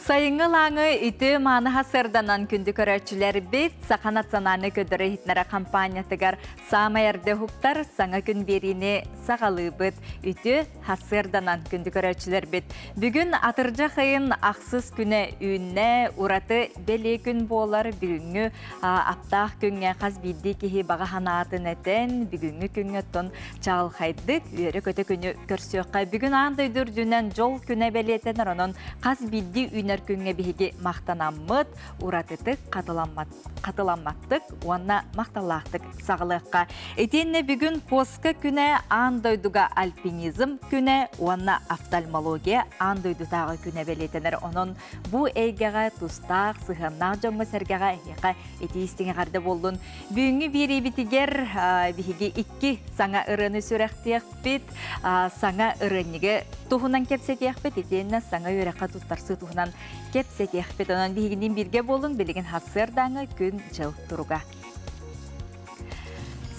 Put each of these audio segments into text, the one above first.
Сайыҥҥы лааңы ити манаха сырданан күндү көрөөччүлэрбит Саха национальный көдөрө иһитнэрэ компаниятыгар саамай эрдэ уһуктар саҥа күн биэриини саҕалыыбыт. Үтү Сарсыарданан күндү көрөөччүлэрбит, бүгүн атырдьах ыйын ахсыс күнэ үүннэ, ураты бэлиэ күн буолар. Бүгүҥҥү аптаах күҥҥэ хас биирдии киһи баҕа санаатын этэн, бүгүҥҥү күҥҥэ оттон чаҕылхайдык, үөрэ-көтө күнү көрсүөххэ. Бүгүн аан дойду үрдүнэн дьол күнэ бэлиэтэнэр, онон хас биирдии үүнэр күҥҥэ биһиги махтанаммыт, уратытык хатыламмат хатыламматтык уонна махталлаахтык саҕалыахха. Итиэннэ бүгүн Пуоска күнэ, аан дойдуга альпинизм күнэ уонна офтальмология аан дойдутааҕы күнэ бэлиэтэнэр. Онон бу эйгэҕэ тустаах, сыһыаннаах дьоҥҥо-сэргэҕэ эһиэхэ итии-истиҥи эҕэрдэ буоллун. Бүгүҥҥү биэриибитигэр биһиги икки саҥа ырыаны сүрэхтиэхпит, саҥа ырыанньыгы туһунан кэпсэтиэхпит итиэннэ саҥа үөрэххэ туттарсыы туһунан кэпсэтиэхпит. Онон биһигинин бииргэ буолуҥ, билигин хаксыардааҥы күн-дьыл туруга.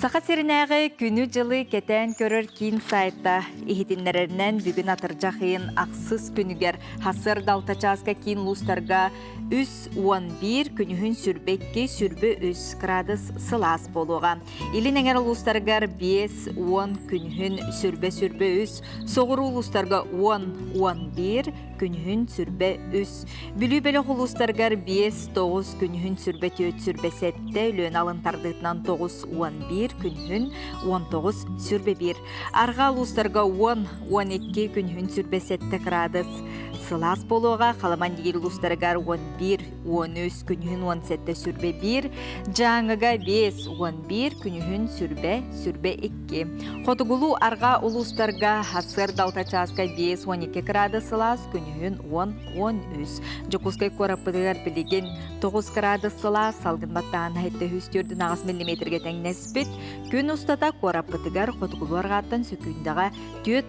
Саха сиринээҕи күнү-дьылы кэтээн көрөр киин сайта иһитиннэрэринэн бүгүн атырдьах ыйын ахсыс күнүгэр хасыарда алта чааска киин улуустарга үс уон биир күнүһүн сүрбэ икки сүрбэ үс градус сылаас буолуоҕа илин эҥэр улуустарыгар биэс уон күнүһүн сүрбэ сүрбэ үс соҕуруу улуустарга уон уон биир күнүһүн сүрбэ үс Бүлүү бөлөх улуустаргар биэс тоҕус күнүһүн сүрбэ түөрт сүрбэ сэттэ Өлүөн алын тардыытынан тоҕус уон биир күнүһүн уон тоҕус сүрбэ биир Арҕаа улуустарга уон уон икки күнүһүн сүрбэ сэттэ кыраадыс сылаас буолуоҕа Халыман дигир улуустарыгар уон биир уон үс күнүһүн уон сэттэ сүрбэ биир Дьааҥыга биэс уон биир күнүһүн сүрбэ сүрбэ икки Хотугулуу арҕаа улуустарга сыр далта чааска биэс уон iki кыраада сылаас күнүһүн уон уон үс Дьокуускай куораппытыгар билигин тоҕус кыраада сылаас салгын баттаан сэттэ үс төрдүн аҕыс миллиметргэ тэҥнэспит күн устата куораппытыгар хотугулуу арҕааттан сөкүүндэҕэ түөрт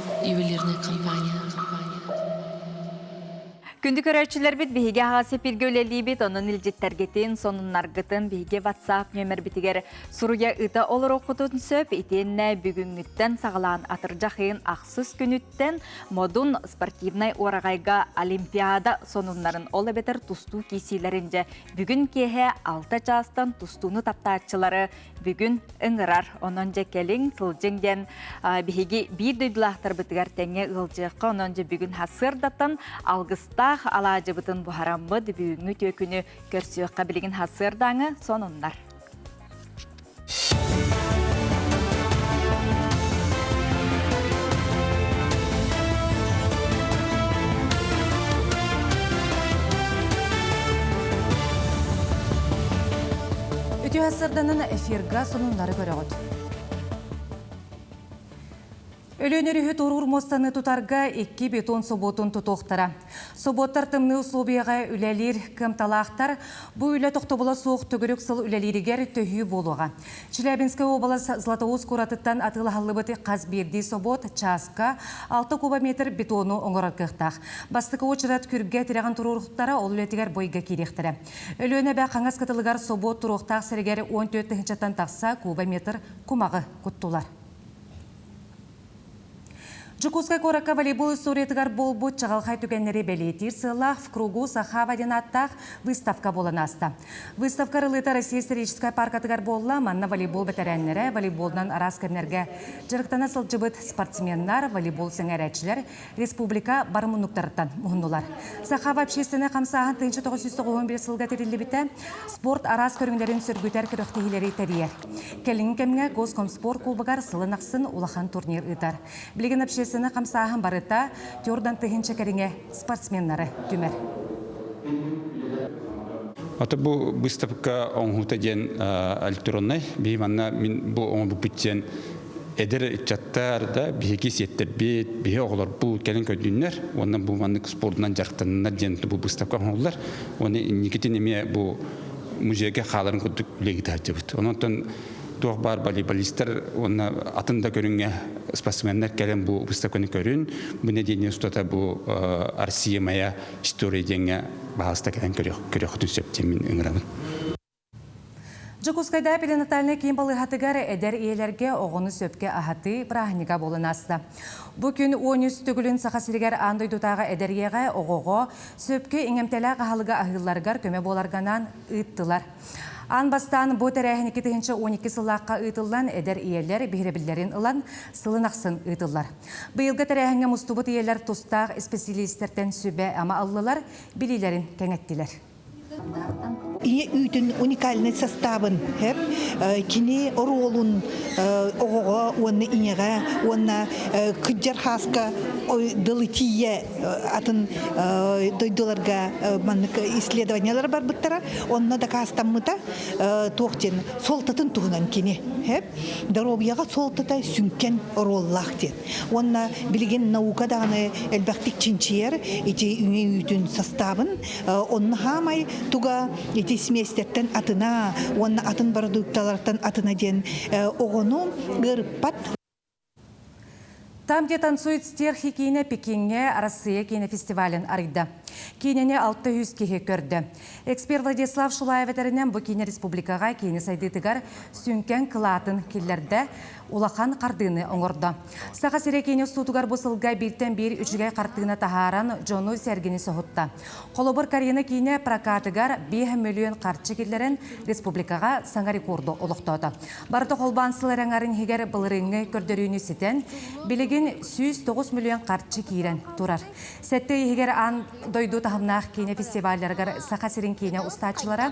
ювелирная компания. Күндү көрөөччүлэрбит биһиги аҕа сепиргэ үлэлиибит, онон илдьиттэргитин, сонуннаргытын биһиги WhatsApp нөмербитигэр суруйа ыта олороххутун сөп. Итиэннэ бүгүҥҥүттэн саҕалаан атырдьахын ахсыс күнүттэн модун спортивнай уораҕайга Олимпиада сонуннарын ол эбэтэр тустуу киисиилэрин дьэ бүгүн киэһэ алта чаастан тустууну таптааччылары бүгүн ыҥырар. Онон дьэ кэлиҥ, сылдьыҥ диэн биһиги биир дойдулаахтарбытыгар тэҥҥэ ыалдьыахха. Онон дьэ бүгүн сырдаттан алгыстаах алаадьыбытын буһараммыт бүгүҥҥү түөкүнү көрсүөххэ билигин сырдааҥы сонуннар. Үтүһэссэрданан эфирга сонуннары көрөҕүт. Өлөөнөр үһү туруур муостаны тутарга икки бетон собуотун тутуохтара. Собуоттар тымныы условияҕа үлэлиир кымталаахтар. Бу үлэ тохтобула суох төгүрүк сыл үлэлииригэр төһүү буолуоҕа. Чилэбинская область Златоуст куоратыттан атыылаһыллыбыт хас биирдии собуот чааска 6 кубометр бетону оҥорор кыахтаах. Бастакы очерет күргэ тирэҕин турууртара ол үлэтигэр бойга киириэхтэрэ. Өлүөнэ эбэ хаҥас кытылыгар собуот туруохтаах сиригэр уон түөрт тыһыынчаттан тахса кубометр кумаҕы куттулар. Дьокуускай куоракка волейбол историятыгар буолбут чаҕылхай түгэннэри бэлиэтиир сыаллаах в кругу Сахава диэн ааттаах выставка буолан ааста. Выставка арылыыта Россия историческай пааркатыгар буолла. Манна волейбол бэтэрээннэрэ, волейболунан араас кэмнэргэ дьарыктана сылдьыбыт спортсменнар, волейбол сэҥээрээччилэр, республика бары муннуктарыттан муһуннулар. Сахаба общественнай хамсааһын тыынча тоҕус сүүс тоҕуһун биир сылга тэриллибитэ спорт араас көрүҥнэрин сөргүтэр күрэхтэһиилэри тэрийэр. Кэлиҥҥи кэмҥэ Госкомспорт кубогар сылын ахсын улахан турнир ыытар. Билигин общественнай хамсааһын барыта Тёрдан тыһыынча кэриҥэ спортсменнары түмэр. Ата бу быыстапка оҥоһуута диэн электроннай. Биһи манна мин бу оҥорбуппут диэн Эдэр ыччаттар да биһиги сиэттэрбит, биһи оҕолорбут кэлин көрдүннэр уонна бу маннык спордунан дьарыктаннар диэн бу быыстапка оҥоһуллар. Уонна инникитин эмиэ бу музейга хааларын курдук үлэни таһырдьабыт. Онон туох баар волейболистар уонна атын да көрүҥҥэ спортсменнар кэлэн бу быыстапканы көрүн. Бу нэдиэлэ устата бу Россия моя история диэҥҥэ баһаалыста кэлэн көрүөххүтүн сөптүөн мин ыҥырабын. Дьокуускайдааҕы перинатальнай киин балыыһатыгар эдэр ийэлэргэ оҕону сөпкө аһатыы бырааһынньыга буолан ааста. Бу күн уон үс төгүлүн Саха сиригэр аан дойдутааҕы эдэр ийэҕэ, оҕоҕо сөпкө иҥэмтэлээх аһылыгы аһыылларыгар көмө буоларганаан ыыттылар. Аан бастаан бу тэрээһин икки тыһыынча он икки сыллаахха ыытыллан, эдэр ийэлэр биһирэбиллэрин ылан, сылын ахсын ыытыллар. Быйылгы тэрээһиҥҥэ мустубут ийэлэр тустаах исписэлиистэртэн сүбэ-ама ыллылар, билиилэрин кэҥэттилэр. Ийэ үүтүн уникальнай састаабын һэп кини оруолун оҕоҕо уонна ийэҕэ уонна кыдьар хааска дылы тиийэ атын дойдуларга маннык исследованиялар барбыттара онно дакаастаммыта туох диэн суолтатын туһунан кини һэп доруобуйаҕа суолтата сүҥкэн оруоллаах диэн уонна билигин наука даҕаны элбэхтик чинчийэр ити ийэ үүтүн састаабын Онно хаамай туга ити сместяттан атына уонна атын бородуукталартан атына диэн оҕону ыарыппат Там, где танцует стерхи киинэ Пекиҥҥэ Арассыыйа киинэфестивалин арыйда. Киинэни алта үс киһи көрдө. Эксперт Владислав Шулаев этэринэн, бу киинэ республикаҕа киини сайдыытыгар сүҥкэн кылаатын киллэрдэ, улахан хардыыны оҥордо. Саха сирэ киин устуутугар бу сылга бииртэн биир үчүгэй хартыына таһааран, дьону-сэргэни соһутта. Холобур, Карина киинэ прокатыгар биэс мөлүөн харчы киллэрэн, республикаҕа саҥа рекорду олохтоото. Барыта холбоон сыл араҥарын иһигэр былырыыҥҥы көрдөрүүнү ситэн, билигин сүүс тоҕус мөлүөн харчы киирэн турар. Сэттэ иһигэр аан дойду таһымнаах киинэ фестивалларыгар Саха сирин киинэ устааччылара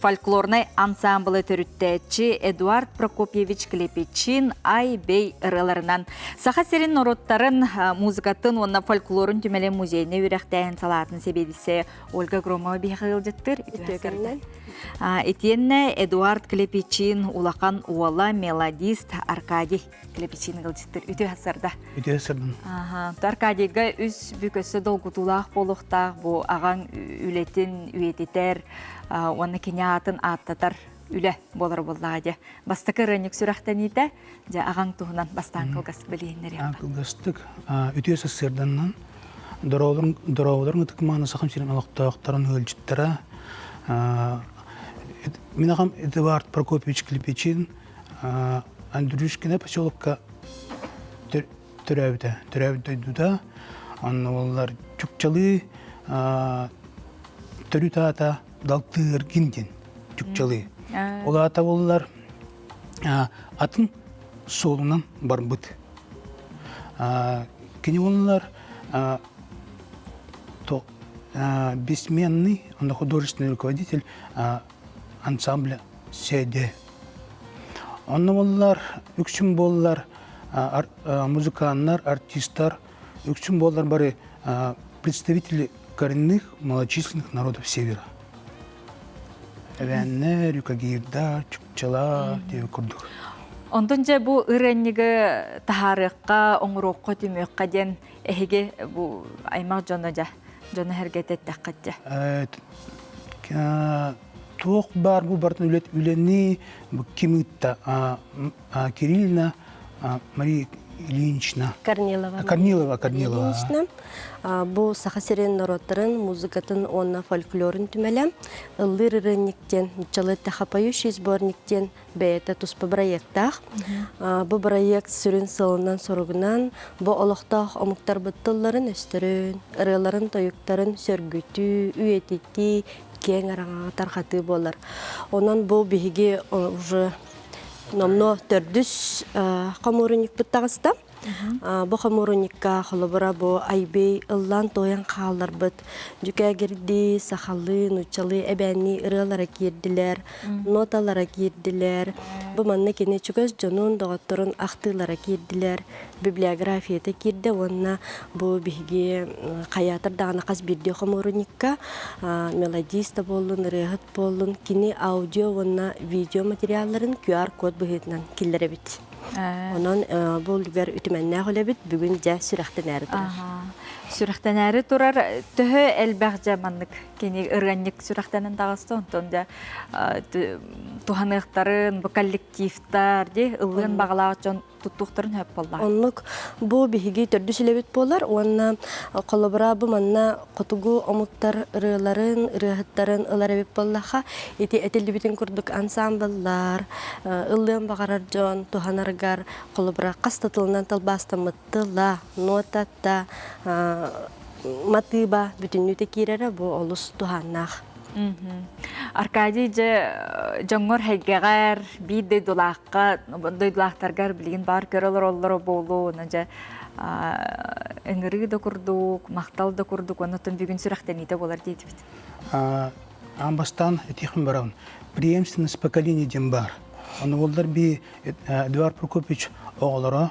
фольклорнай ансаамбылы төрүттээччи Эдуард Прокопьевич-Клепичин Ай-бэй ырыаларынан Саха сирин норуттарын музыкатын уонна фольклорун түмэлин музейнай үөрэхтээһин салаатын сэбиэдиссэйэ Ольга Громова биһиэхэ ыалдьыттыр итиэннэ Эдуард Клепичин улахан уола мелодист Аркадий Клепичина ылдьыттыр үтүө сарда. Үтүө сырдын. Аха. Аркадийга үс бүк өссө долгутуулаах буолуохтаах бу аҕаҥ үлэтин үйэтитэр уонна кини аатын ааттатар үлэ болар боллаға де бастакы ырыанньык сүрэхтэниитэ же агаң туһунан бастаан кылгастык билиһиннериэм кылгастык үтүө сассыарданнан дорооболорун ытык мааны сахам сирим олохтоохторун өлжүттара мен ағам эдуард прокопьевич клепечин Андрюшкино поселокка төрөөбүтэ. Төрөөбүт дойдута онно боллар Чукчалыы төрүт аата Далтыыргин диэн Чукчалыы. Ол аата боллар атын суолунан барбыт. Кини боллар бессменный художественный руководитель ансамбля СЭДЕ. Онно буоллар, үксүн буоллар музыканнар, артистар, үксүн буоллар бары представители коренных малочисленных народов севера. Эбэннэ, рюкагирда, чукчала диэби курдук. Онтон дьэ бу ырыанньыгы таһаарыахха, оҥоруохха, түмүөххэ диэн Эһиги бу аймах дьоно дьа дьоно-сэргэтэ эттэххит дьэ. Туох баар бу бартын үлэни ким ыытта Кириллина Мария Ильинична. Корнилова. Корнилова, Корнилова. Ильинична бу Саха сирин норуоттарын музыкатын уонна фольклорун түмэлэ ыллыыр ырынник диэн нуччалыы тахапоющий сборник диэн Бэйэтэ туспа бырайыактаах. Бу бырайыак сүрүн сылынан-соругунан бу олохтоох омуктарбыт тылларын-өстөрүн, ырыаларын-тойуктарын сөргүтүү, үйэтитии киэҥ араҥаҕа тарҕатыы буолар. Онон бу биһиги уже номнуо төрдүс хомуурунньукпут таҕыста. Бу хомуурунньукка холобура бу айбый ыллаан-туойан хаалларбыт дьүкээгирдии, сахалыы, нууччалыы эбээннии ырыалара киирдилэр, ноталара киирдилэр. Бу манна кини чугас дьонун, доҕотторун ахтыылара киирдилэр, библиографията киирдэ уонна бу биһиги хайаатар даҕаны хас биирдии хомуурунньукка мелодист да буоллун, ырыаһыт буоллун, кини аудио уонна видео материалларын QR-код быһыытынан киллэрэбит. Онон бу үлүгэр үтүмэннээх үлэбит бүгүн дьэ сүрэхтэнээри турар. Сүрэхтэнээри турар төһө элбэх дьэ маннык кини ырыанньык сүрэхтэнэн таҕыста онтон дьэ туһаныахтарын бу коллективтар дии ыллыгын баҕалаах дьон туттуохтарын сөп буолла. Оннук бу биһиги төрдүс үлэбит буолар уонна холобура бу манна хотугу омуктар ырыаларын, ырыаһыттарын ылар эбит буоллаха, ити этиллибитин курдук ансаамбыллар, ыллыан баҕарар дьон туһанаргар, холобура, хас да тылынан тылбаастаммыт тыла, нотата, матыыба бүтүннүүтэ киирэрэ бу олус туһааннаах. Аркадий дьэ дьоҥҥор эйгэҕэр биир дойдулаахха дойдулаахтаргар билигин баар көрө олороллоро буолуо уонна дьэ ыҥырыы да курдук махтал да курдук оннуттан бүгүн сүрэхтэниитэ буолар диэтибит аан бастаан этиэхим барабын преемственность поколений дем бар ону уоллар би Эдуард Прокопьевич оҕолоро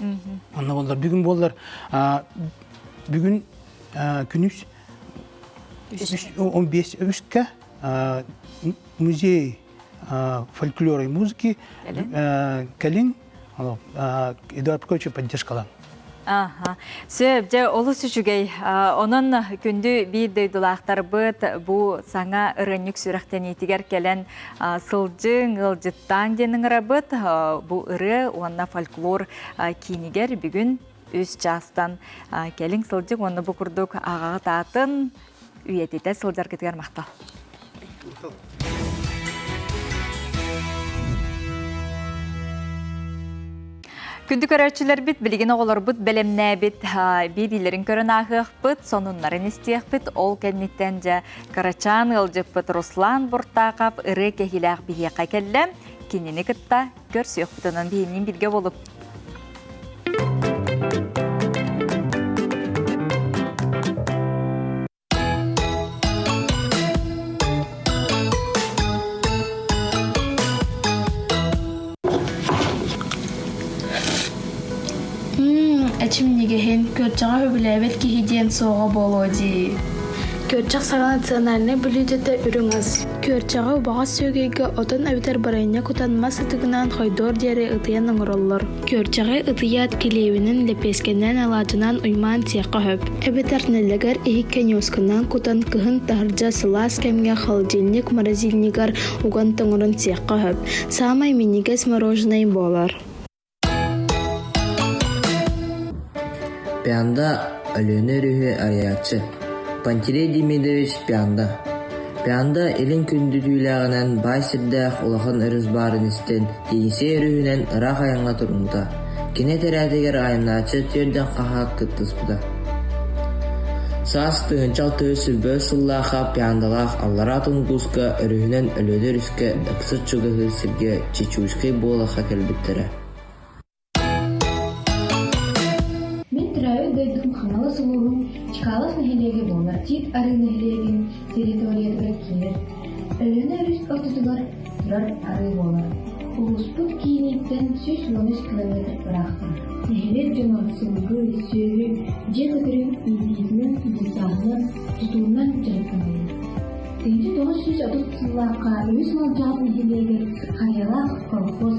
Онно боллар бүгүн буоллар бүгүн күнүс 15-ка музей фольклора и музыки кэлин Эдуард Петрович поддержкалан Сөп, дьэ олус үчүгэй. Онон күндү биир дойдулаахтарбыт бу саҥа ырынньык сүрэхтэниитигэр кэлэн Сылдьыҥ, ыалдьыттаан диэн ыҥырабыт. Бу ырыа уонна фольклор киинигэр бүгүн үс чаастан кэлиҥ сылдьык уонна бу курдук аҕаҕыт аатын үйэтитэ сылдьаргытыгар махтал. Күндү көрөөччүлэрбит, билигин оҕолорбут бэлэмнээбит биэриилэрин көрөн ааһыахпыт, сонуннарын истиэхпит. Ол кэнниттэн дьэ кырачаан ыалдьыппыт Руслан Буртаков ырыа кэһиилээх биһиэхэ кэллэ. Кинини кытта көрсүөхпүт. Онон биһиниин билгэ болуп. эчимньигэһин күрдьэҕэ сөбүлээбэт киһи диэн суоҕа буолуо дии күрдьэх саҥа национальнай бүлүүдэтэ үрүҥ ас күрдьэҕи убаҕас сүөгэйгэ отон эбэтэр бырайыанньа кутан мас ытыгынаан хойдуор диэри ытыйан оҥороллор Күөрчэҕи ытыйаат килиэбинэн лэпиэскэнэн алаадьынан уймаан сиэххэ сөп. Эбэтэр нэлэгэр иһиккэ ньуосканан кутан кыһын таһырдьа сылаас кэмҥэ холодильник морозильнигар уган тоҥорон сиэххэ сөп. Саамай минньигэс мороженое буолар. Панда Өлүөнэ өрүһү арыйааччы Пантелей Демидович Панда Панда илин күндүтүүлээҕинэн баай сирдээх улахан өрүс баарын истэн, Енисей өрүһүнэн ыраах айаҥҥа туруммута, кини этэрээтигэр айаннааччы түөрдэн хаһаак кыттыспыта. Саас тыһыынча алтыһы силбэс сыллаахха пандалаах аллараа тунгууска өрүһүнэн Өлүөнэ өрүскэ даксыт чугаһыыр сиргэ Чечульскай буолахха кэлбиттэрэ Мин төрөөбүт дойдум Ханалас улууһун Чкалов нэһилиэгэ буолар Тиит Арыы нэһилиэгин территориятыгар киирэр. Өлүөнэ өрүс ортотугар турар арыы буолар. Улууспут кииниттэн сүүс уон үс километр ыраахтан. Нэһилиэк дьоно сылгы, сүөһү, дьиэ көтөрүн иитиитинэн, дьулусааһынан, тутуунан дьарыктанылар. 1930 сыллаахха үһүс Малдьаҕар нэһилиэгэр Хайалаах, Хорохос,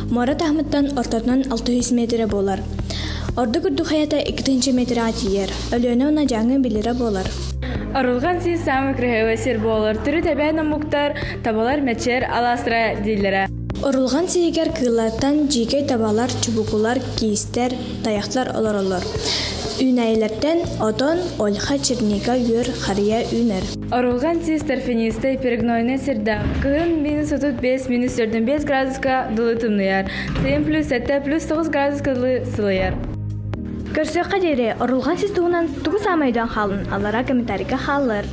Муора таһымыттан ортотунан 600 миэтирэ буолар. Ордук үрдүк хайата 2 миэтирэҕэ тиийэр. Өлүөнэ уонна Дьааҥы билирэ буолар. Орулган сии самый красивый сир болор. Түрүт эбээн омуктар, табалар мечер, аластра дииллерэ. Орулган сиигэр кыыллартан жиикей табалар, чубукулар, киистер, таяхтар олоролор. Үүнәйилертен отон, ольха, черника, үөр, хария үүнэр. Орулган сис торфянистай перегнойнай сирдээх. Кыһын минус отут биэс минус төрдөн биэс градуска дылы тымныйар. Сым плюс сэттэ плюс тоҕус градуска дылы сылыйар. Көрсүөххэ диэри орулган сис туһунан тугу саамайдан хаалын алара комментарийга хааллар.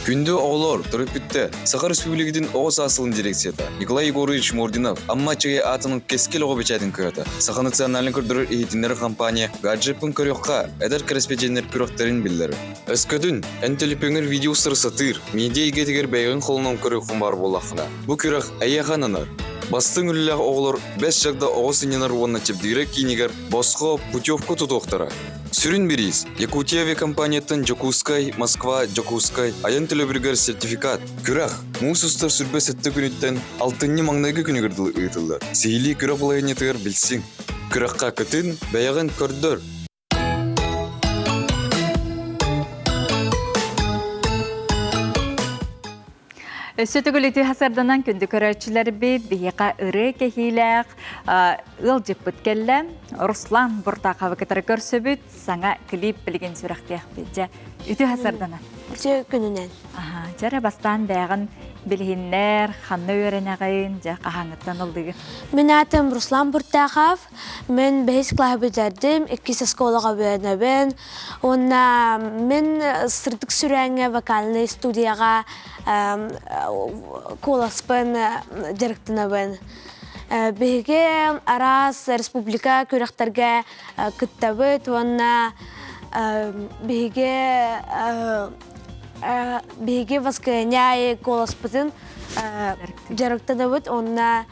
Күндү оҕолор, төрүт бүтті. Саха Республикатын оҕо саасылын дирекцията Николай Егорович Мординов Амма Чегай аатының кескел оҕо бэчээтин кыһата Саха национальный көрдөрөр иһитиннэр компания Гаджеппын көрүөххэ, эдэр кэрэспэдьиэннэр күрэхтэрин биллэр. Өскөтүн, эн төлөпүөҥҥэр видеосары сатыыр, медиа эйгэтигэр бэйэҕин холонон көрүөххүн баар буоллаххына, бу күрэх эйиэхэ ананар. Бастыҥ үлэлээх оҕолор Бэс Чагда оҕо сынньанар уонна чэбдигирэ киинигэр босхо, путевка тутуохтара. Сүрүн бириис – Якутия авиакомпанияттан Дьокуускай, Москва, Дьокуускай айан төлөбүрүгэр сертификат. Күрэх муус устар сүрбэ сэттэ күнүттэн алтынньы маҥнайгы күнүгэр дылы ыытыллар. Сиһилии күрэх балаһыанньатыгар билсиҥ. Күрэххэ кытын бэйэҕин көрдөр. Өссө төгүлүтүү хасарданан күндү көрөөччүлэрбит биһиэхэ ырыы кэһиилээх ыалдьыппыт кэллэ. Руслан Буртаховы кытары көрсөбүт. саҥа клип билигин сүрэхтиэхпит дьэ үтүө сардана үтүө күнүнэн аха дьэрэ бастаан бээҕин билиһиннэр ханна үөрэнэҕин дьэ хаһааҥҥыттан ылдыгын мин аатым руслан буртахов мен бэһис клаһы бүтэрдим иккис оскуолаҕа үөрэнэбин уонна мен сырдык сүрээҥҥэ вокальнай студияҕа куоласпын дьарыктанабын биһиги араас республика күрэхтэргэ кыттабыт уонна биһиги биһиги воскресняй голоспутун дьарыктанабыт уонна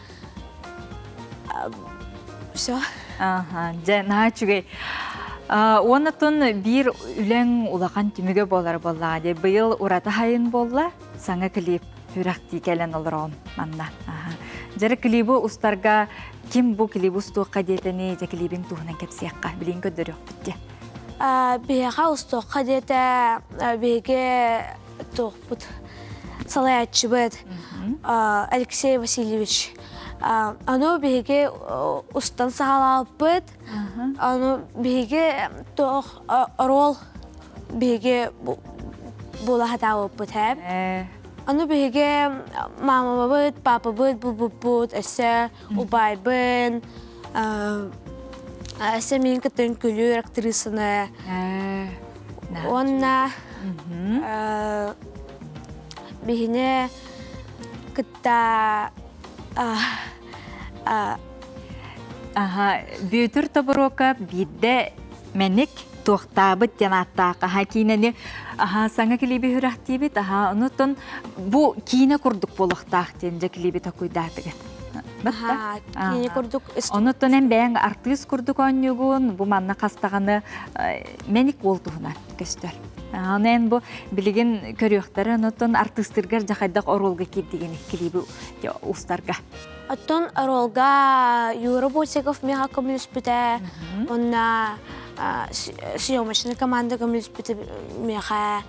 все аха дьэ наһаа үчүгэй уонна тун биир үлэң улахан түмүгэ буолар буоллаҕа дии быйыл ураты хайын буолла саҥа клип сүрэхтии кэлэн олороон манна дьара клибу устарга ким бу клиб устуохха диэтэни дьэ клибин туһунан кэпсиэххэ билиҥ көрдөрүөхпүт диэ биһиэхэ устуохха диэтэ биһиги туохпут салайааччыбыт Алексей Васильевич аны биһиги устан саҕалаалпыт Аны биһиги туох оруол биһиги булаһатаабыппыт эб Аны биһиги маамабыт, папабыт, булбуппут өссө убайбын өссө мин кытын күлүүр актрисаны уонна биһини кытта Аха, Бүөтүр Тобуруока биирдэ мэник туохтаабыт диэн ааттаах аха киинэни аха саҥа клиби үрэхтиибит аха онутун бу киинэ курдук буолуохтаах диэн дьэ клиби токуйдаатыгыт аха киинэ курдук онутун эн бэйэҥ артыыс курдук оонньуугун бу манна хастаҕаны мэник буол туһунан көстөр. Аны эн бу билигин көрүөхтэрэ, оттон артыыстыргар дьахайдах оруолга киирдигин клиби устарга. Оттон оруолга Юра Бусиков миэхэ көмүлүспүтэ, онна съемочная команда көмүлүспүтэ миэхэ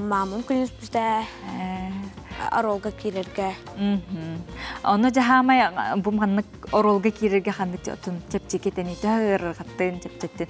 мамам көмүлүспүтэ оруолга киирэргэ. Ону дьаһаамай бу маннык оруолга киирэргэ ханнык чэпчэки тэнитэ ырырҕаттын, чэпчэттин.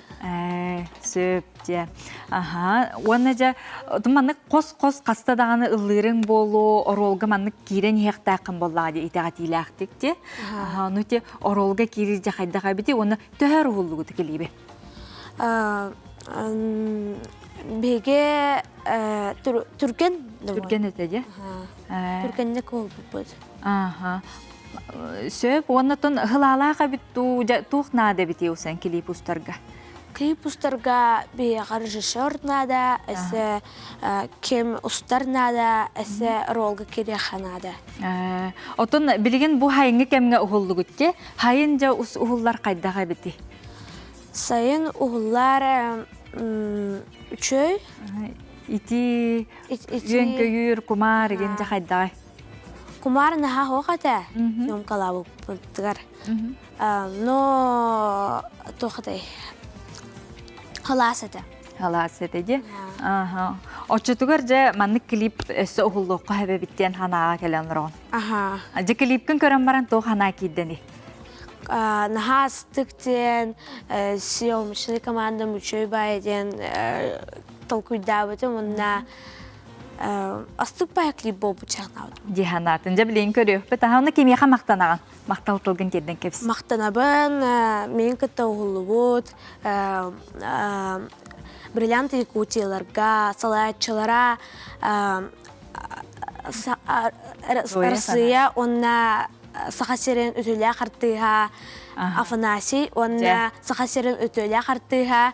сөп дия аха уонна дьэ маннык хос-хос хаста даҕаны ыллыырыҥ буолуо оруолга маннык киирэн иһиэхтээххин буоллаҕа дии итэҕэтиилээхтик те аха ону те оруолга киирэр дьэ хайдах эбитий уонна төһө өр уһуллубут кэлииби биһиги түргэн түргэн этэ дьэ түргэнник уһулбуппут Ааха. Сөп уонна тон һылаалаах эбит дуу, туох наада эбитий усэн клип устарга? Клип устарга биһиэхэ режиссер наада, эссе ким устар наада, эссе ролга кириэхэ наада. Отон билигин бу хайыңы кэмҥэ уһуллугутке, хайын жа уһуллар хайдах эбити? Сайын уһуллар үчөй? Ити үөнкөйүүр, кумаар игин жа хайдаҕай? Кумаар наһаа оһох этэ ньумкалаабыппытыгар но туох этэй халаас этэ халаас этэ ди оччотугар дьэ маннык клип өссө уһуллуохха эбэбит диэн санааҕа кэлэн олороҕун аха дьэ клипкин көрөн баран туох санаа киирдэни наһаа астык диэн съемочнай команда мучай бай диэн толкуйдаабытым онна Астыппая клип буолбучаанабыт. Диһанаатын дьэ билейин көрүөхпүт. Аһыны кимиэхэ махтанаҕын? Махтал тылгын тиэрден кэбис. Махтанабын, мен кытта уһуллубут бриллиант якутияларга, салааччылара Россия онна Саха сирин үтүлээх артыыһа Афанасий онна Саха сирин үтүлээх артыыһа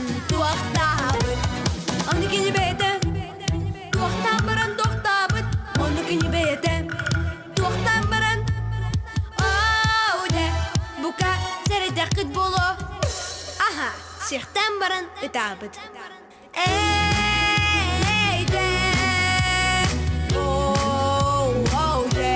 туохтаабыт аны кини бэйэтэ туохтаан баран туохтаабыт ону кини бэйэтэ туохтаан баран оо дэ бука сэрэйдэххит буолуо аха сиэхтээн баран ытаабыт Эй, дэ, оу, оу, дэ.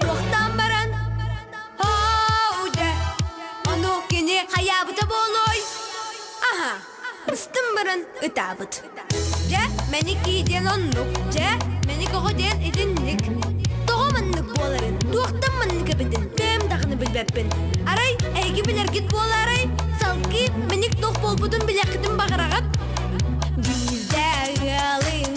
Туохтаан баран Оо дьэ ону кини хайаабыта буолуой Аха ыстым баран ытаабыт Дьэ мэникий диэн оннук Дьэ мэник оҕо диэн итинник Тоҕо маннык буоларын туохтан маннык эбитин бэйэм даҕаны билбэппин Арай эһиги билэргит буолаарай салгыы мэник туох буолбутун билиэххитин баҕараҕыт Биирдэ ыалын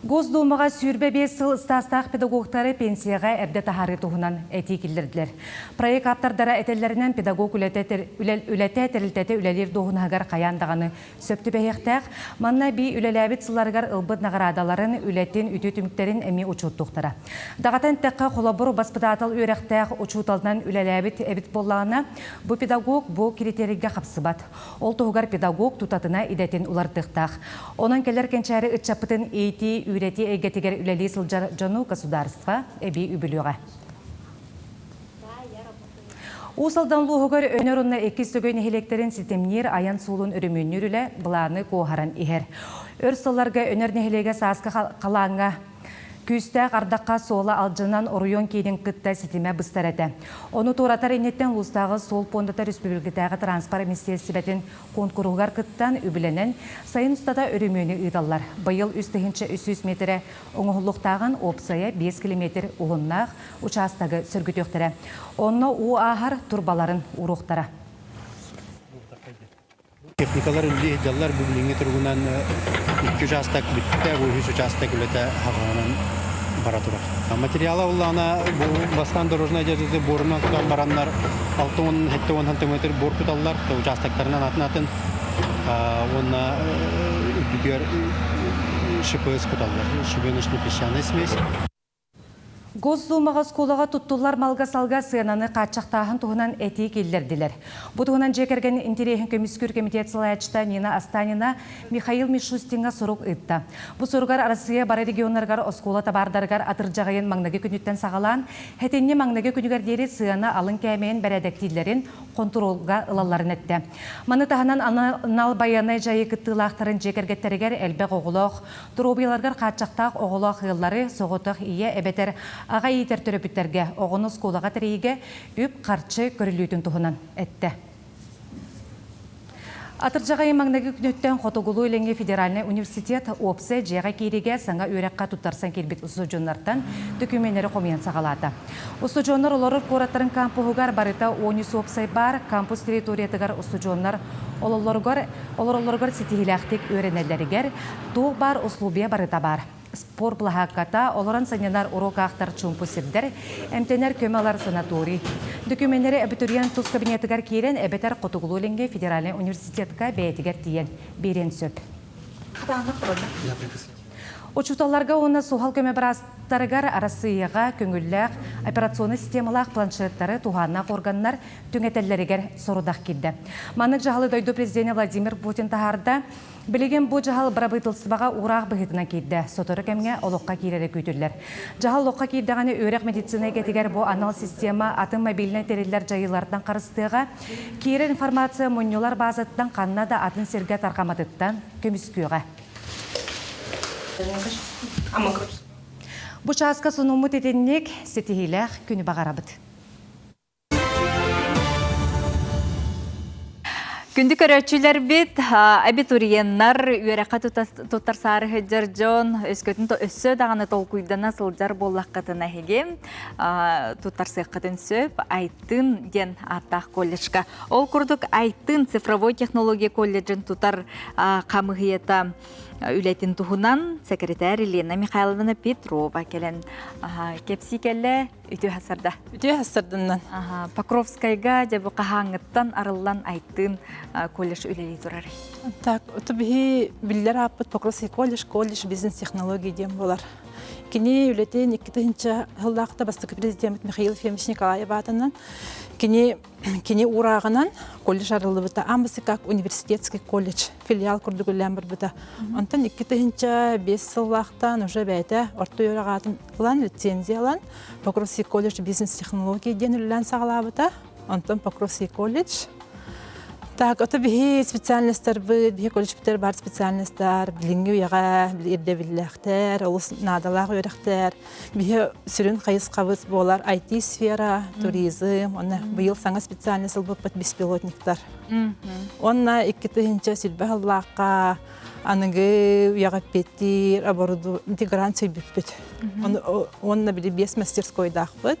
Госдуумаҕа сүүрбэ биэс сыл стаастаах педагогтары пенсияҕа эрдэ таһаарыы туһунан этии киллэрдилэр. Проект ааптардара этэллэринэн, педагог үлэтэ тэрилтэтэ үлэлиир дуоһунаһыгар хайаан даҕаны сөп түбэһиэхтээх. Манна бии үлэлээбит сылларыгар ылбыт наҕараадаларын, үлэтин, үтүө түмүктэрин эмиэ учуоттуохтара. Даҕатан эттэххэ, холобур, баспытаатал үөрэхтээх учууталынан үлэлээбит эбит буоллаҕына, бу педагог бу критерийгэ хапсыбат. Ол туһугар педагог тутатына идэтин уларытыахтаах. Онон кэлэр кэнчээри ыччаппытын иитии-үөрэтии эйгэтигэр үлэлии сылдьар дьону государство эбии үбүлүөҕэ. Уус Алдан улууһугар Өнөр уонна Иккис Сөгөй нэһилиэктэрин ситимниир айан суолун өрөмүөннүүр үлэ былааны куоһаран иһэр. Өр сылларга Өнөр нэһилиэгэ сааскы халааҥҥа Күүстээх ардахха суола алдьанан оройуон киинин кытта ситимэ быстар этэ. Ону туоратар инниттэн улуустааҕы суол пуондата республикатааҕы транспорт министиэристибэтин куонкуруһугар кыттан, үбүлэнэн, сайын устата өрөмүөнү ыыталлар. Быйыл үс тыһыынча үс сүүс миэтэрэ оҥоһуллуохтааҕын уопсайа биэс килэмиэтир уһуннаах учаастагы сөргүтүөхтэрэ. Онно уу ааһар турбаларын ууруохтара. Техникалар үллии сылдьаллар. Бу билиҥҥи туругунан икки учаастак бүттэ, бу үһүс учаастак үлэтэ аһаҕаһынан бара турар. Материала улаана бу бастаан дорожная дьазы буорунан тутан бараннар 6 уон сэттэ уон сантиметр буор куталлар учаастактарынан атын атын уонна үрдүгэр шипс куталлар шибеночно песчаная смесь Госдуумаҕа оскуолаҕа туттуллар малга-салга сыананы хааччахтааһын туһунан этии киллэрдилэр. Бу туһунан дьиэ кэргэн интэриэһин көмүскүүр комитет салайааччыта Нина Останина Михаил Мишустиҥҥа сурук ыытта. Бу суругар Арассыыйа бары регионнарыгар оскуола табаардарыгар атырдьаҕайын маҥнайгы күнүттэн саҕалаан, этинни маҥнайгы күнүгэр диэри сыана алын кээмэйин бэрээдэктииллэрин хонтуруолга ылалларын эттэ. Маны таһынан анал байыаннай дьайыы кыттыылаахтарын дьиэ кэргэттэригэр элбэх оҕолоох, Доруобуйаларыгар хааччахтаах оҕолоох ыаллары, соҕотох ийэ эбэтэр аҕа иитэр төрөппүттэргэ оҕону оскуолаҕа тэрийиигэ үп-харчы көрүллүүтүн туһунан эттэ. Атырдьаҕайы маҥнайгы күнүттэн Хотугулуу-Илиҥҥи федеральнай университет уопсай дьиэҕэ киириигэ саҥа үөрэххэ туттарсан киирбит судьуннартан дөкүмүөннэри хомуйан саҕалаата. Устудьуоннар олорор куораттарын кампуһугар барыта уонүс уопсай баар, кампус территориятыгар устудьуоннар ололлоругар, олороллоругар ситиһиилээхтик үөрэнэллэригэр туох баар усулуобуйа барыта баар. Спорт былаһаакката олорон сынньанар уруок аахтар чуумпу сирдэр, эмтэнэр көмө ылар санаторий. Докумүөннэри абитуриент тус кабинетыгар киирэн эбэтэр хотугулуу-илиҥҥи федеральнай университетка бэйэтигэр тиийэн биэриэн сөп. Учууталларга уонна суһал көмө быраастарыгар Арассыыйаҕа көҥүллээх операционнай системалаах планшеттары туһааннаах органнар түҥэтэллэригэр сорудах киирдэ. Маннык дьаһалы дойду президенэ Владимир Путин таһаарда. Билигин бу дьаһал бырабыытылыстыбаҕа уураах быһыытынан киирдэ. Сотору кэмҥэ олоххо киирэрэ күүтүллэр. Дьаһал олоххо киирдэҕинэ үөрэх медицинэ идэтигэр бу анал система атын мобильнай тэриллэр дьайыылартан харыстыаҕа. Киирэр информация мунньулар баазатыттан ханна да атын сиргэ тарҕамматыттан көмүскүөҕэ. Бу чааска сонуммут итинник ситиһиилээх күнү баҕарабыт. Күндү көрөөччүлэрбит, абитуриеннар, үөрэххэ туттар саарыһыддьар дьон өскөтүн өссө даҕаны толкуйдана сылдьар буоллаххытына эһиги туттарсыаххытын сөп, Алтын диэн ааттаах колледжка. Ол курдук Айтын цифровой технология колледжын тутар хамыһыйата үлэтин туһунан секретарь Елена Михайловна Петрова кэлэн кэпсии кэллэ үтүө хасарда. Үтүө хасарданнан. Покровскайга дьэбу хаһааҥҥыттан арыллан Айтын колледж үлэлии турар. Так, ото биһи биллер ааппыт Покровский колледж, колледж бизнес технологии диэн болар. Кини үлэтин икки тыһынча сыллаахта бастакы президент Михаил Ефимович Николаев аатынан кини кини урааҕынан колледж арыллыбыта амбасы как университетский колледж филиал курдук үллээн барбыта онтон икки тыһынча бес сыллаахтан уже бэйэтэ орто үөрэх аатын ылан лицензия ылан покровский колледж бизнес технологии диэн үллээн саҕалаабыта онтон Покровский колледж. Так, ото биһи специальностарбыт, биһи колледжбиттэр баар специальностар, билиҥҥи үйэҕэ ирдэбиллээхтэр, олус наадалаах үөрэхтэр. Биһи сүрүн хайысхабыт буолар IT-сфера, туризм, уонна быйыл саҥа специальность ылбыппыт беспилотниктар. Уонна икки тыһыынча силбэ халлаахха аныгы үйэҕэппиттиир оборудование интегран сөйбүппүт. Уонна били биэс мастерскойдаахпыт.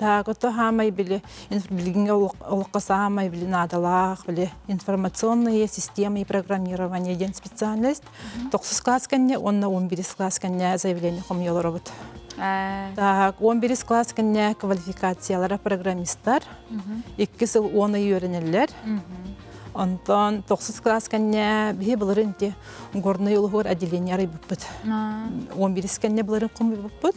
Таағыта хаамай били билигинге олоххо саамай били наадалаах били информационные системы программирования диэн специальность тохсус класс кэнне уонна он бирис класс кэнне заявление хомуйолоробут так он бирис класс кэнне квалификациялара программистар икки сыл он ый үөрэнэллэр онтон тохсус класс кэнне биһи былырын те горный улугур отделение арыйбыппыт он бирис кэнне былырын хомуйбуппут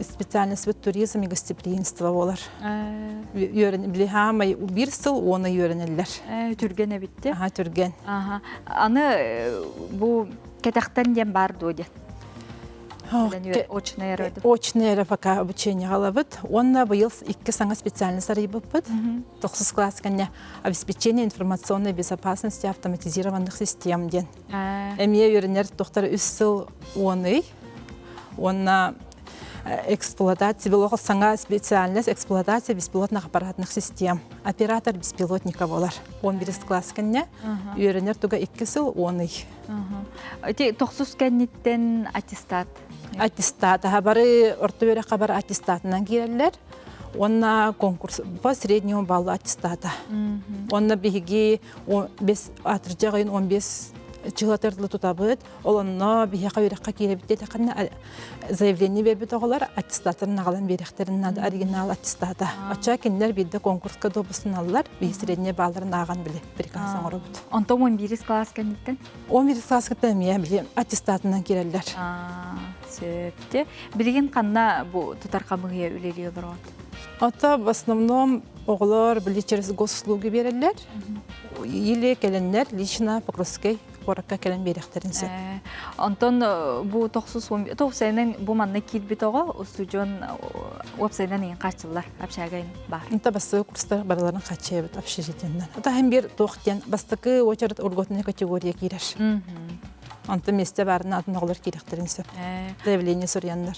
специальностьбыт туризм и гостеприимство буолар үөрэн били хаамай биир сыл уона үөрэнэллэр түргэн эбитте аха түргэн аха аны бу кэтэхтен диэн баар дуо диэн очный эро очный эро пока обучение галабыт онна быйыл икки саңа специальность арыйбыппыт тохсус класс кэнне обеспечение информационной безопасности автоматизированных систем диэн эмие үйренер тохтар үс сыл уоный Уонна эксплуатация бэлох саҥа специальность эксплуатация беспилотных аппаратных систем оператор беспилотника болар он бирис класс кенне үйөрөнөр туга икки сыл он ый ти тохсус кенниттен аттестат аттестат аха бары орто бөрө хабар аттестатынан киреллер онна конкурс по среднему баллу аттестата онна биһиги бес атыржа он бес чылатырлы тутабыт Олонно биһиэхэ үрэххэ киирбит диэтэххинэ заявление бербит оҕолор аттестатын нагалан биэрэхтэрин нада оригинал аттестата. Оча кинилэр биирде конкурска добустаналлар, биһи среднее балларын ааған биле приказ оңорубут. Онтон 11 класс кэнниттэн? 11 класс кытта эмиэ били аттестатынан киреллер. Сөпте. Билигин канна бу тутар камыйы үлелиэ олорот? Ата в основном оҕолор били через госуслуги береллер. Или келеннер лично Покровский куоракка кэлэн биэриэхтэрин сөп. Онтон бу тохсус тоқсайынан бу манна киирбит оҕо устудьуон уопсайынан иин хааччыллар общагайын бар. Инта бастыгы курстар барыларын хаччыйабыт общежитиеннан. Атаһым бир туох диэн бастакы очерет урготуна категория кирер. Онтон месте барына атын оҕолор кирехтерин сөп. Заявление сурьяннар.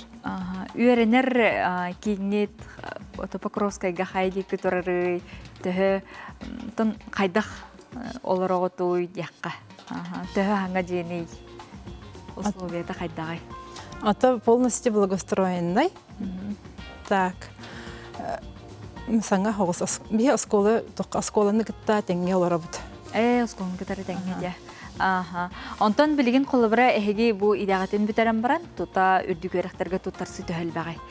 Үйренер киннит Топокровскайга хайди күтөрөрүй төһө тон хайдах олороҕутуй диэххэ төһө аһаҥа дьиэний условията хайдаҕый ата полностью благоустроенный так саҥа оҕус биһи оскуола оскуоланы кытта тэҥҥэ олоробут ээ оскуоланы кытары тэҥҥэ дьэ аха онтон билигин холобура эһиги бу идэҕитин бүтэрэн баран тута үрдүк үөрэхтэргэ туттарсыы төһө элбэҕэй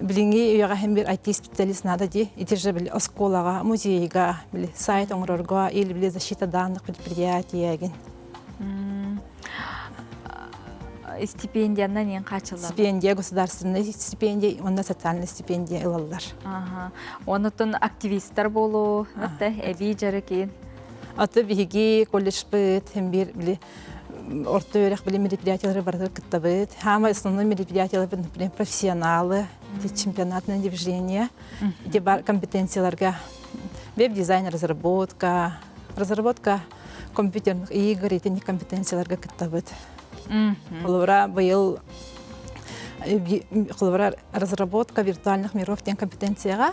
Билиҥҥи үйэҕэ һин бир IT-испиктэлис наада ди итирже били оскуолаҕа, музейга, били сайт оҥорорго или били защита данных предприятиегин. Стипендиянан ен качыллар. Стипендия государственный стипендия, онна социальный стипендия ылаллар. Ага. Онутун активисттар болу, эби жарыкин. Аты биһиги колледж быт, һим бир били орто үөрэх билим мероприятиялары барытыгар кыттабыт. Хаамай основной мероприятияларбын, например, профессионалы, чемпионатное движение, эти компетенцияларга веб-дизайн разработка, разработка компьютерных игр, эти компетенцияларга кыттабыт. Холобура, быйыл холобура разработка виртуальных миров диэн компетенцияга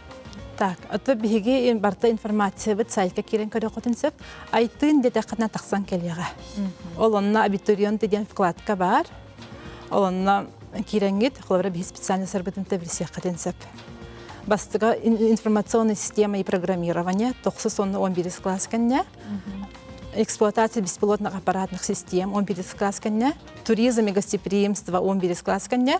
Так, ото биһиги барта информациябыт сайтка киирэн көрүөххүтүн сөп. Айтыын детэххитинэ тахсан кэлиэҕэ. Ол онно абитуриент диэн вкладка баар. Ол онно киирэҥҥит, холобура биһи специально сарбытын тэбирсиэххитин сөп. Бастыга информационная система и программирование тохсус онно он бирис класс кэннэ. Эксплуатация беспилотных аппаратных систем он бирис класс кэннэ. Туризм и гостеприимство он бирис класс кэннэ.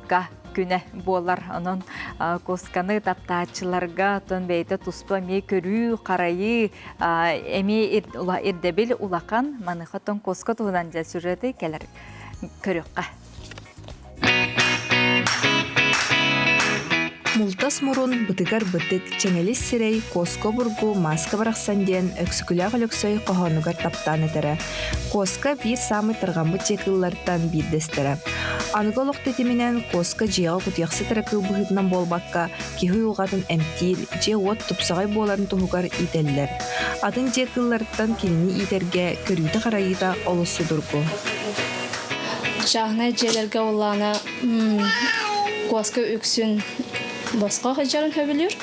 Куска күнэ буолар. Онон кусканы таптааччыларга отон бэйэтэ туспа эмиэ көрүү-харайыы эмиэ ирдэбил улахан. Маныха отон куска туһунан дьэ сюжеты кэлэр көрүөххэ. Мултас мурун, бытыгар бытык, чэҥэлис сирэй, куоска обургу, мааска барахсан диэн Өксүкүлээх Өлөксөй хоһоонугар таптаан этэрэ. Коска биир саамай тарҕаммыт дьиэ кыыллартан биирдэстэрэ. Аныгы олох тэтиминэн Коска дьиэҕэ кутуйахсыт кыл быһыытынан буолбакка, киһи уйулҕатын эмтиир, дьиэ-уот тупсаҕай буоларын туһугар иитэллэр. Атын дьиэ кыылларыттан кинини иитэргэ көрүүтэ-харайыыта олус судургу. Чааһынай дьиэлэргэ улаана Коска үксүн босхо сылдьарын сөбүлүүр.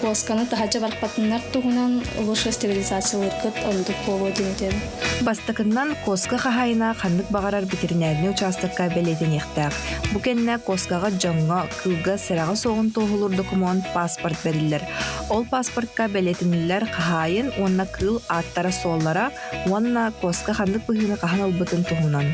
куосканы таһача барпатыннар туһунан лучше стерилизациялыыргыт ордук буолуо диэн этэбин. Бастакыннан, куоска хаһаайына ханнык баҕарар ветеринарнай учаастакка бэлиэтэниэхтээх. Бу кэннэ куоскаҕа дьоҥҥо, кыылга сэрэҕэ суоҕун туоһулуур докумуон паспорт бэриллэр. Ол паспортка бэлиэтэниллэр хаһаайын уонна кыыл ааттара-суоллара уонна куоска ханнык быһыыны хаһан ылбытын туһунан.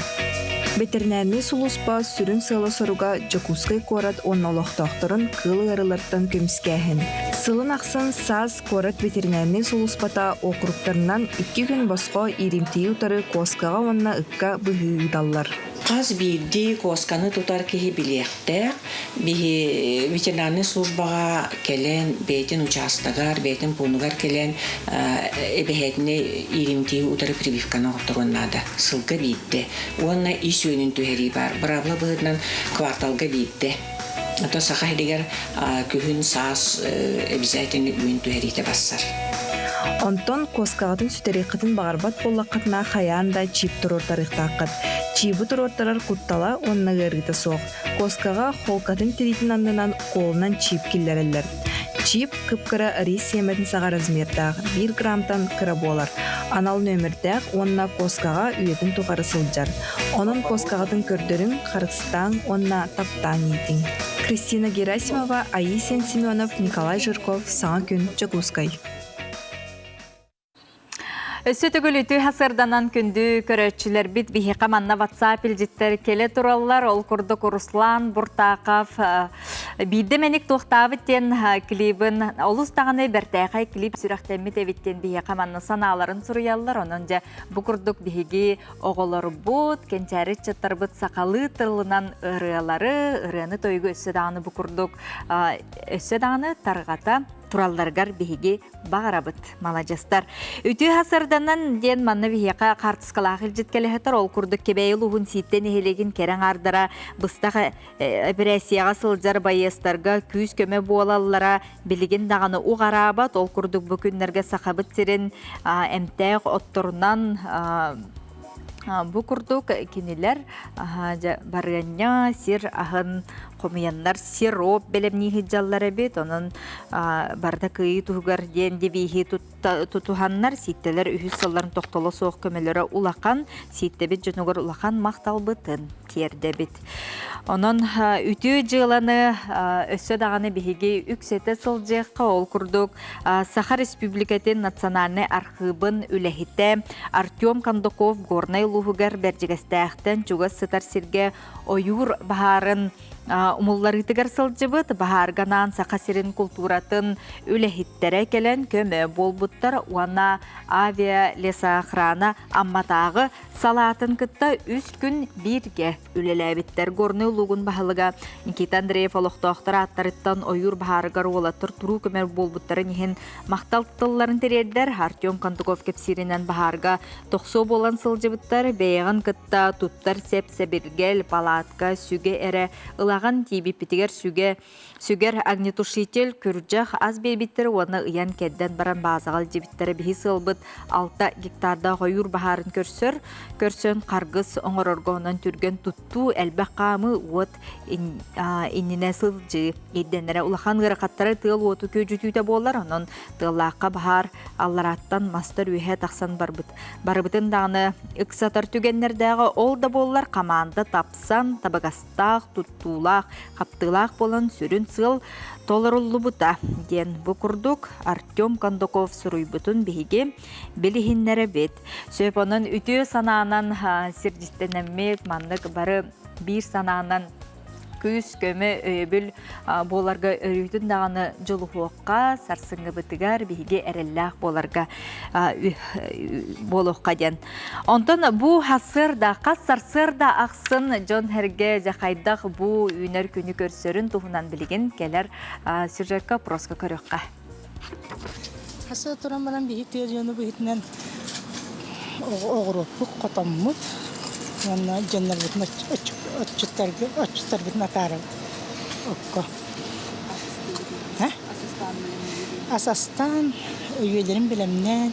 Бэтэринээрнэй сулууспа сүрүн сыала-соруга Дьокуускай куорат уонна олохтоохторун кыыл ыарыылартан көмүскээһин. Сылын ахсын САС куорат ветеринарнай сулууспата округтарынан икки күн босхо ииримтийии утары куоскаҕа уонна ыкка быһыы ыыталлар. Хас биирдии куосканы тутар киһи билиэхтээх. Биһи ветеринарнай службаҕа кэлэн, бэйэтин учаастагар, бэйэтин пуунугар кэлэн эбэһээтинэй иилимтиһи утары прививканы оҥорторуон наада. Сылга биирдэ. Уонна ис үөнүн түһэрии баар. Быраабыла быһыытынан кварталга биирдэ. Ото Саха иһигэр күһүн-саас обязательно үүн түһэриитэ барсар. Онтон куоскаҕытын сүтэриэххитин баҕарбат буоллаххытына хайаан да чиip туруортарыахтааххыт. Чиибы туруортарар куттала уонна ыарыыта суох. Куоскаҕа холкатын тириитин аннынан куолунан чиип киллэрэллэр. Чиип кып-кыра рис сиэмэтин саҕа размердаах 1 граммтан кыра буолар. Анал нөмүрдээх уонна куоскаҕа үйэтин тухары сылдьар. Онон куоскаҕытын көрдөрүҥ, харыс таптааҥ уонна таптааҥ иитиҥ. Кристина Герасимова, Аисен Семенов, Николай Жирков, Саҥа күн, Дьокуускай. Өссө төгүл үтү хасарданан күндү көрөөччүлэрбит биһиэхэ манна WhatsApp илдьиттэр келе тураллар. Ол курдук Руслан Буртаков биирдэ мэник туохтаабыт диэн клибын олус даҕаны бэртээхэй клип сүрэхтэммит эбит диэн биһиэхэ манна санааларын суруйаллар. Онон дьэ бу курдук биһиги оҕолорбут, кэнчээри ыччаттарбыт сахалыы тылынан ырыалары, ырыаны-тойугу өссө даҕаны бу курдук өссө даҕаны тарҕата туралларыгар биһиги баҕарабыт маладьыстар үтүө сарданан диэн манна биһиэхэ хаартыскалаах илдьит кэлэһэтэр ол курдук кэбэйи улууһун сииттэн нэһилиэгин кэрэ аҥаардара быстах эпэрээссийэҕэ сылдьар байыастарга күүс-көмө буолаллара билигин даҕаны уҕараабат ол курдук бу күннэргэ сахабыт сирин эмтээх отторунан бу курдук кинилэр барыанньа сир аһын хомуйаннар сироп бэлэмнии сылдьаллар эбит онон барыта кыайыы туһугар диэн дибииһи тутуһаннар сииттэлэр үһүс сылларын тохтоло суох көмөлөрө улахан сииттэбит дьонугар улахан махталбытын тиэрдэбит онон үтүө дьыаланы өссө даҕаны биһиги үксэтэ сылдьыахха ол курдук саха республикатын национальнай архыыбын үлэһитэ артем кондаков горнай улууһугар бэрдьигэстээхтэн чугас сытар сиргэ ойуур баһаарын умулларыытыгар сылдьыбыт баһаарганаан Саха сирин култууратын үлэһиттэрэ кэлэн көмө буолбуттар уонна авиалесоохрана Амматааҕы салаатын кытта үс күн бииргэ үлэлээбиттэр. Горный улуугун баһылыга Никита Андреев олохтоохтор ааттарыттан ойуур баһаарыгар уолаттар туруу көмө буолбуттарын иһин Махтал тылларын тириэрдэр Артем Контуков кэпсииринэн баһаарга тохсуо буолан сылдьыбыттар бэйэҕин кытта туттар сэп-сэбиргэл, палатка, сүгэ эрэ, ылаҕын тиийбиппитигэр сүгэ, сүгэр огнетушитель, күрдьэх ас биэрбиттэр уонна ыйан-кэрдэн баран баазаҕа илдьибиттэрэ биһи сыалбыт алта гектардаах ойуур баһаарын көрсөр, көрсөн харгыс оҥорорго онон түргэн туттуу, элбэх хаамыы, уот иннинэ сылдьыы ирдэнэрэ улахан ыарахаттары тыал уоту күөдьүтүүтэ буолар онон тыаллаахха баһаар алларааттан мастар үөһэ тахсан барбыт барыбытын даҕаны ыксатар түгэннэрдээҕи ол да буоллар хамаанда тапсан табыгастаах туттуулаах хаптыылаах буолан сүрүн сыал толоруллубута диэн бу курдук артем кондаков суруйбутун биһиги билиһиннэрэбит сөп онон үтүө санаанан сирдистэнэммит маннык бары биир санаанан күүс көмө өйөбүл буоларга өрүүтүн даҕаны дьулуһуохха сарсыҥҥыбытыгар биһиги эрэллээх буоларга буолуохха диэн онтон бу сарсыарда хас сарсыарда ахсын дьон эргэ дьахайдах бу үүнэр күнү көрсөрүн туһунан билигин кэлэр сюжекка опроска көрүөххэ Аса туран баран биһи тыа дьону быһытынан оҕуруоппут хотоммут уонна дьоннорбутун отчуттарбытын атаарабыт окко. Ас астаан, үйэлэрин бэлэмнээн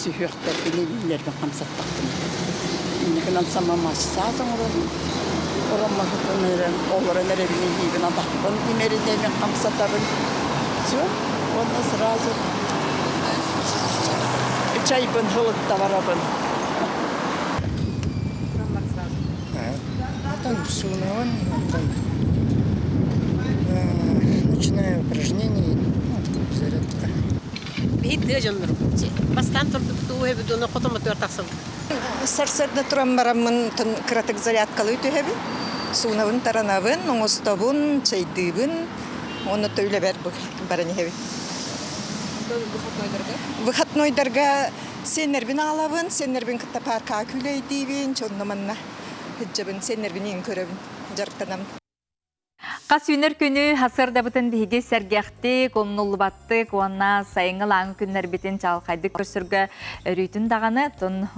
сүһүөхтэрбин илиилэрбин хамсаттахпын. Инникинэн саҥа массаас оҥорон, ороммоһутун ыыран, олорон эрэбин иһиибин атахпын имэритэмин хамсатабын. Все. Уонна сразу чайбын ылытта барабын. Там все у Навального, начиная упражнений, ну, такая зарядка. Биһи тыа дьоннорубут дьэ. Бастаан турдубут үһэбит уонна хотон мотуор тахсабыт. Сарсыарда туран бараммын кыратык зарядкалыы түһэбин. Суунабын, таранабын, оҥостобун, чайдыыбын. Уонна то үлэбэр баран иһэбин. Выходнойдарга? Выходнойдарга сиэннэрбин аалабын, сиэннэрбин кытта паркаҕа күлэйдиибин, чонно манна сылдьабын, сиэннэрбин иин көрөбүн, дьарыктанабын. Хас үүнэр күнү сырдабытын биһиги сэргэхтик, умнуллубаттык уонна сайыҥҥы лааҥы күннэрбитин чаҕылхайдык көрсөргө өрүүтүн даҕаны тун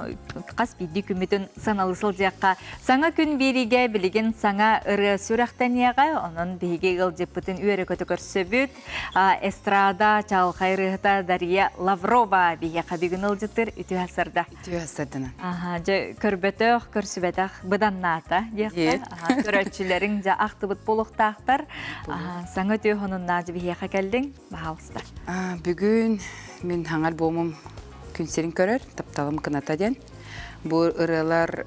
хас биирдии күммүтүн саналы сылдьыахха. Саҥа күн биэриигэ билигин саҥа ырыа сүрэхтэниэҕэ. Онон биһиги ыалдьыппытын үөрэ-көтө көрсөбүт. А, эстрада чаҕылхай ырыаһыта Дарья Лаврова биһиэхэ бүгүн ыалдьыттыр үтүө сырда. түһэ сырдынан аха дьэ көрбөтөх көрсүбэтэх быданнаата диэххэ көрөөччүлэриҥ дьэ ахтыбыт буолуохтаахтар саҥа түһ хонуннаа дьэ биһиэхэ кэллиҥ баһаалыста бүгүн мин хаҥар буомум күн сирин көрөр тапталым кыната диэн бу ырыалар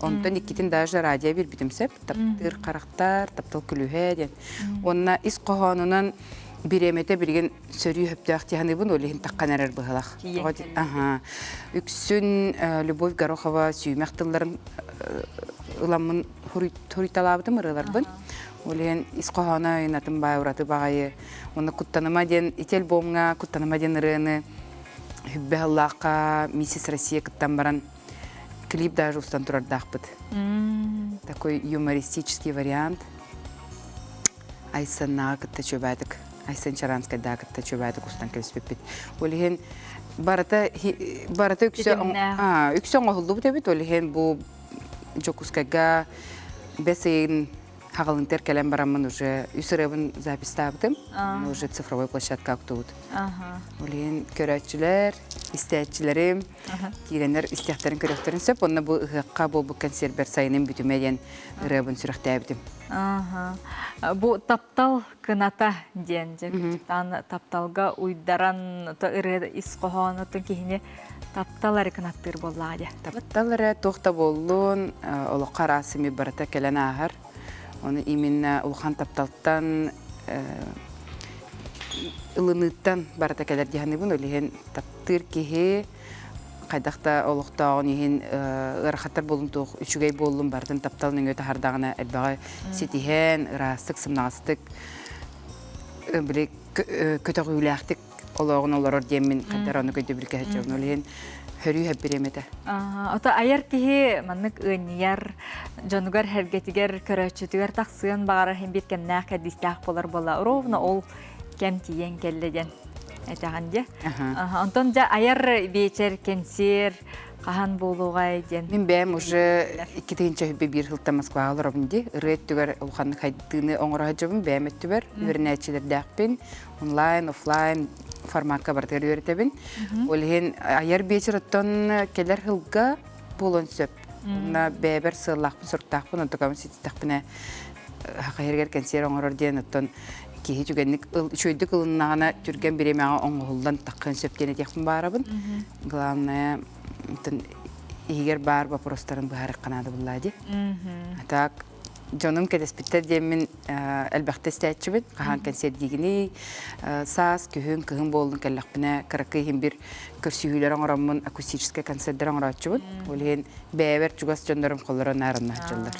Онтон иккитин даже радио биэрбитим сөп. Таптыыр харахтар, таптал күлүһэ диэн. Уонна ис хоһоонунан бириэмэтэ билигин сөрүү сөптөөх дии саныыбын, ол иһин таххан эрэр быһыылах. Аха. Үксүн Любовь Горохова сүүмэх тылларын ыламмын хуруйталаабытым ырыаларбын. Ол иһин ис хоһооно ыйынатын баай ураты баҕайы. Уонна Куттаныма диэн ити альбомҥа Куттаныма диэн ырыаны Хүббэ Аллаахха Миссис Россия кыттан баран клип даже устан турардаахпыт такой юмористический вариант айсаннаға кытта чөбәтік айсан чаранскайдаа кытта чөбәтік устан кэбиспиппит ол иһин барыта барыта үксө үксө оҥоһуллубут эбит ол иһин бу дьокускайга бэс ыйын Хаҕылынтер кэлэн бараммын уже үс ырыабын запистаабытым. Уже цифровой площадка актыбыт. Олейин көрөөччүлэр, истээччилэрим киирэннэр истэхтэрин көрөхтөрүн сөп. Онно бу ыһыахха буолбут консервер сайыным бүтүмэ диэн ырыабын сүрэхтээбитим. Бу таптал кыната диэн дьэ кырдьыктаан тапталга уйдаран то ырыа ис хоһоонуттан киһини таптал эрэ кынаттыыр буоллаҕа дьэ таптал эрэ туох да буоллун олоххо араас ими барыта кэлэн ааһар ону именно улахан тапталтан ылыныыттан барыта кэлэр диһаныбын ол иһин таптыыр киһи хайдах да олохтооҕун иһин ыарахаттар буолун туох үчүгэй буоллун барытын тапталын өҥө таһардаҕына элбэҕи ситиһэн ыраастык сымнаҕастык били көтөҕүүлээхтик олоҕун олорор диэммин хайдар ону көйдөбүл кэһэччэбин ол иһин хөрүү хэппириэмэтэ. Ото айар киһи маннык ыанньыйар дьонугар сэргэтигэр көрөөччүтүгэр тахсыан баҕарар иһин биир кэмнээх кэрдиистээх буолар буола ровно ол кэм тиийэн кэллэ диэн этэҕин дии. Онтон дьэ айар вечер, кэнсиэр хаһан буолуоҕай диэн. Мин бэйэм уже икки тыһыынча хүбэ биир сылта Москваҕа олоробун дии. Ырыа өттүгэр улаханнык хайдыыны оҥоро сылдьабын бэйэм өттүгэр. Үөрэнээччилэрдээхпин. Онлайн, офлайн форматка барытыгар үөрэтэбин. Ол иһин айар биэчэр оттон кэлэр сылга буолуон сөп. Уонна бэйэбэр сыаллаахпын, соруктаахпын, онтукабын ситистэхпинэ хахыһырыгар кэнсиэр оҥорор диэн оттон киһи түгэнник ыл үчүгэйдик ылыннаҕына түргэн бириэмэҕэ оҥоһуллан таххыан сөп диэн этиэхпин баарабын. Главное иһигэр баар боппуруостарын быһаарыахха наадабыллаа дии. Так дьонум кэтэспиттэр диэммин элбэхтэ истээччибин хаһаан кэнсиэрдиигиний саас күһүн кыһын буоллун кэллэхпинэ кыракый иһин бир көрсүһүүлэр оҥороммун акустическай концерттер оҥорооччубут ол иһин бэйэбэр чугас дьоннорум холлоро наарыннааччыллар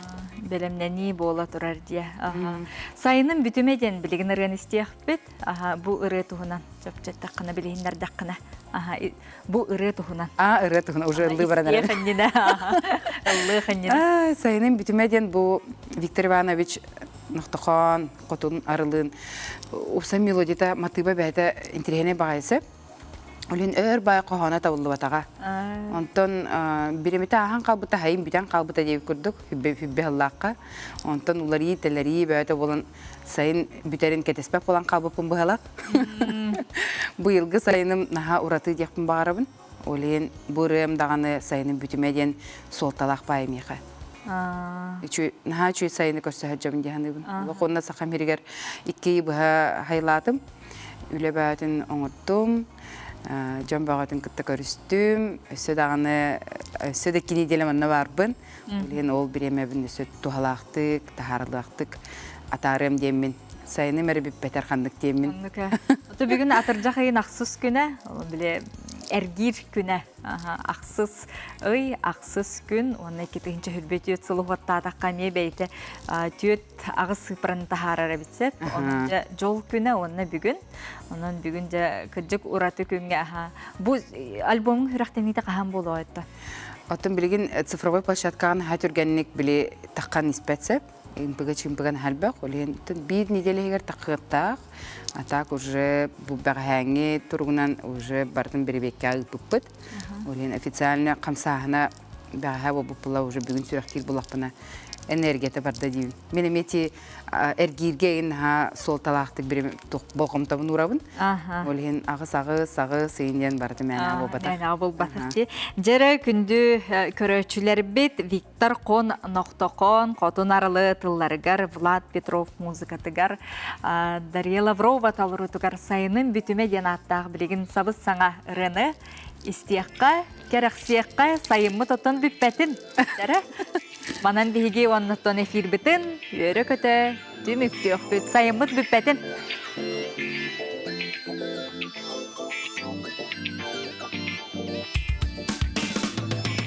бэлэмнэнии буола турар дия сайыным бүтүмэ диэн билигин ырыан истиэхпит Аһа, бу ырыа туһунан чэпчэттэххинэ, билиһиннэрдэххинэ, аһа, бу ырыа туһунан. Аа, ырыа туһунан уже ыллыы баран эрэр. Ыллыах анньына. Сайынын бүтүмэ диэн бу Виктор Иванович Нохтохон, Хотун Арылын, Уса мелодита матыыба бэһэтэ интириһэнэй баҕайысы. Үлүн өр бай хоһооно табыллыбатаҕа. Онтон биримити аахан хаалбыта, хайын бүтэн хаалбыта диэбит курдук, хүббэ ыллаахха. Онтон уларыы, тэлэрии бөөтө болон сайын бүтэрин кэтэспэт болан хаалбыппын быһалах. Быйылгы сайыным наһаа уратыы диэхпин баҕарабын. Олен бу ырыам даҕаны сайыным бүтүмэ диэн суолталаах паэмиха. Үчү наһаа үчү сайыны көрсөһөр дьом диһаныбын. Уонна саха миригэр икки быһа хайлаатым. үлэбээтин оҥордум, дьон бөҕөтүн кытта көрүстүм, өссө даҕаны өссө да кини диэн манна барбын. Билигин ол бириэмэбин өссө туһалаахтык, таһаарылаахтык атаарыам диэммин сайыным эрэ бүппэтэр ханнык диэммин. Ханнык э. бүгүн атырдьах ыйын ахсыс күнэ, били эргиир күнэ. Ахсыс ый, ахсыс күн, уонна икки тыһыынча хүрбэ түөрт сыл уһуоттаатахха эмиэ бэйэтэ түөрт аҕыс сыыпараны таһаарар эбит сөп онон дьэ дьол күнэ уонна бүгүн онон бүгүн дьэ кырдьык ураты күҥҥэ аха бу альбомуҥ үрэхтэниитэ хаһан буолуойтто оттон билигин цифровой площадкаҕын аһа түргэнник били таххан испэт сөп импыга чимпыган хальбах олен биир неделя иһигэр тахыаттаах а так уже бу бэҕэһээҥҥи туругунан уже бартын бирибеккэ ыыппыппыт олен официально хамсааһына Дааһа буппула уже бүгүн сүрэхтиир булахпына энергията барда диибин. Мин эмети эргииргэ ин наһаа суолталаахтык бири болҕомтобун уурабын. Ол иһин аҕыс аҕыс аҕыс ыйын диэн барыта мээнэҕэ буолбатах. Мээнэҕэ буолбатах дии. Дьэрэ күндү көрөөччүлэрбит Виктор Кон Нохтокон Хотун Арылы тылларыгар Влад Петров музыкатыгар Дарья Лаврова толоруутугар сайынын бүтүмэ диэн ааттаах билигин сабыс саҥа ырыаны истиэххэ, кэрэхсиэххэ, сайыммыт отон бүппэтим. Манан биһиги оннуттан эфирбитин үөрө-көтө түмүктүөхпүт, сайыммыт бүппэтим.